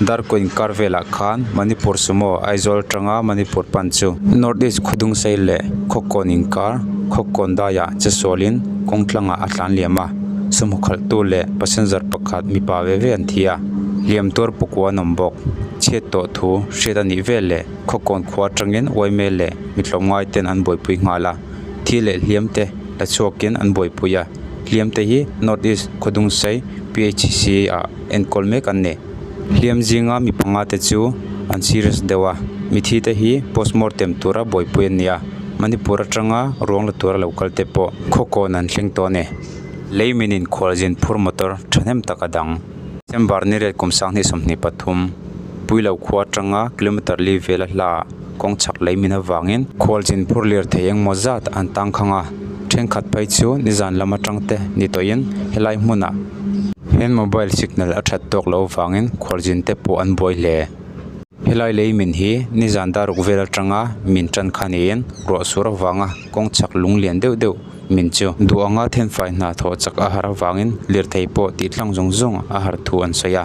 Darko inkar velah khan Manipur sumo, Aizawl tanga Manipur pan chu. North East khawdung sei leh khawkawn inkar, khawkawn daia che sualin kawng tlangah a tlan liam a, sawmhaw khalhtu leh passenger pakhat mipa ve ve an thi a, liam tuar pakua an awm bawk. Chhiat tawh thu hriat a nih vel leh khawkawn khua atangin Ymail leh mi tlawm ngai ten an buaipui nghal a, thil leh hliam te la chhuakin an buaipui a, hliam te hi North East khawdung sei PHC ah. Enkawl mek an ni. Hliam zinga mi panga te chu an serious deuh a, mithi te hi postmortem tura buaipui an ni a, Manipur atanga ruang la tura lo kal te pawh khaw kawn an thleng tawh a ni. Lei min in khual zin phur motor thahnem tak a dang. December ni rel kum sanghnih sawmhnih pathum, Puilo khua atanga kilometre li vel a hla ah, kawng chhak lei min avangin khual chin phur lir thei engmaw zat an tang khang a, thenkhat phei chu nizan lam atangte ni tawhin helai hmuna hian mobile signal a that tawk loh avangin khual chin te pawh an buai hle. Helai lei min hi nizan dar uk vel atanga min tan kha niin ruah sur avanga kawng chhak lung lian deuh deuh min chu duh anga thenfai hna thawh chak a har avangin lirthei pawh tih thlang zawng zawng a har thu an sawi a.